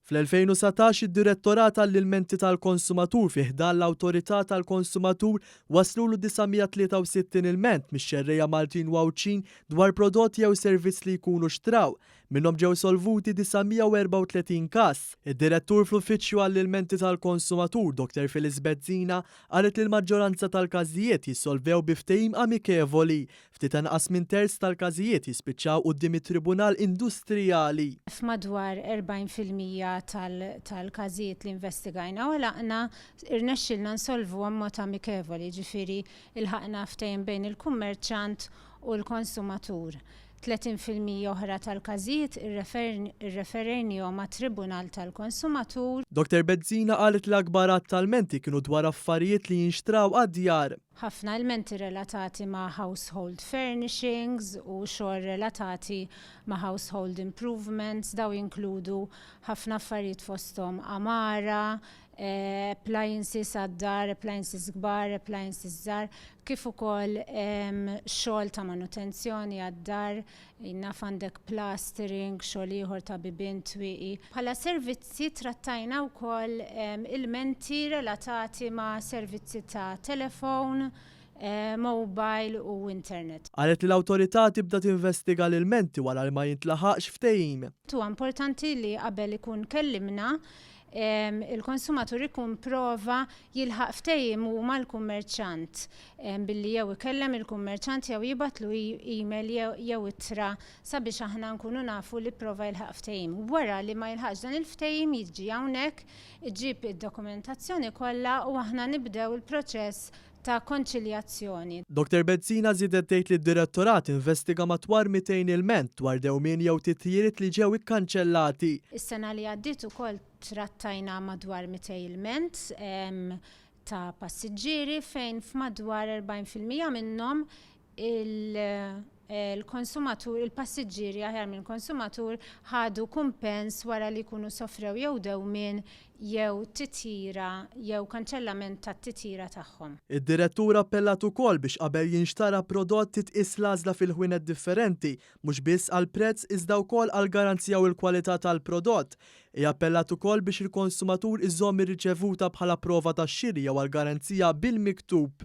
Fl-2019 id-Direttorat għall-Ilmenti tal-Konsumatur fi ħdan l-Awtorità tal-Konsumatur wasslulu 963 ilment mix-xerrejja Maltin u Għawdxin dwar prodott jew servizz li jkunu xtraw. Minnhom ġew solvuti 934 każ. Id-Direttur fl-Uffiċċju għall-Ilmenti tal-Konsumatur, Dr. Phyllis Bezzina, qalet li l-maġġoranza tal-każijiet jissolvew bi ftehim amikevoli. ftit anqas minn terz tal-każijiet jispiċċaw quddiem it-Tribunal Industrijali. F'madwar 40 fil-mija tal-każijiet li investigajna u għalaqna, irnexxielna nsolvuhom b'mod amikevoli, jiġifieri lħaqna ftehim bejn il-kummerċjant u l-konsumatur. 30 fil-mija oħra tal-każijiet irreferejniehom għat-Tribunal tal-Konsumatur. Dottor Bezzina qalet li l-akbar għadd ta' lmenti kienu dwar affarijiet li jinxtraw għad-djar. Ħafna ilmenti relatati ma' household furnishings u xogħol relatati ma' household improvements, dawn jinkludu ħafna affarijiet fosthom għamara, appliances għad-dar, appliances kbar, appliances żgħar, kif ukoll xogħol ta' manutenzjoni għad-dar, Naf għandek plastering, xogħol ieħor ta' bibien twieqi. Bħala servizzi trattajna wkoll ilmenti relatati ma' servizzi ta' telefown, mobile u internet. Qalet li l-Awtorità tibda tinvestiga l-ilmenti wara li ma jintlaħaqx ftehim. Huwa importanti li qabel ikun kellimna il-konsumatur ikun prova jilħaq ftehim hu mal-kummerċant billi jew ikellem il-kummerċant jew jibgħatlu email jew ittra sabiex aħna nkunu nafu li pprova jilħaq ftehim. Wara li ma jilħaqx dan il-ftehim jiġi hawnhekk, iġib id-dokumentazzjoni kollha u aħna nibdew il-proċess ta' konċiljazzjoni. Dottor Bezzina żiedet tgħid li d-Direttorat investiga matwar 200 ilment dwar dewmien jew titjiriet li ġew ikkanċellati. Is-sena li għaddiet ukoll trattajna madwar 200 ilment ta' passiġġieri fejn f'madwar 40 fil-mija minnhom il, l-konsumatur, il-passiġġieri aħjar minn konsumatur, ħadu kumpens wara li jkunu sofrew jew dewmien jew titjira jew kanċellament tat-titjira tagħhom. Id-Direttur appellat ukoll biex qabel jinxtara prodott titqies l-għażla fil-ħwienet differenti, mhux biss għall-prezz iżda wkoll għall-garanzija u l-kwalità tal-prodott. Hi appellat ukoll biex il-konsumatur iżomm ir-riċevuta bħala prova tax-xiri jew għall-garanzija bil-miktub.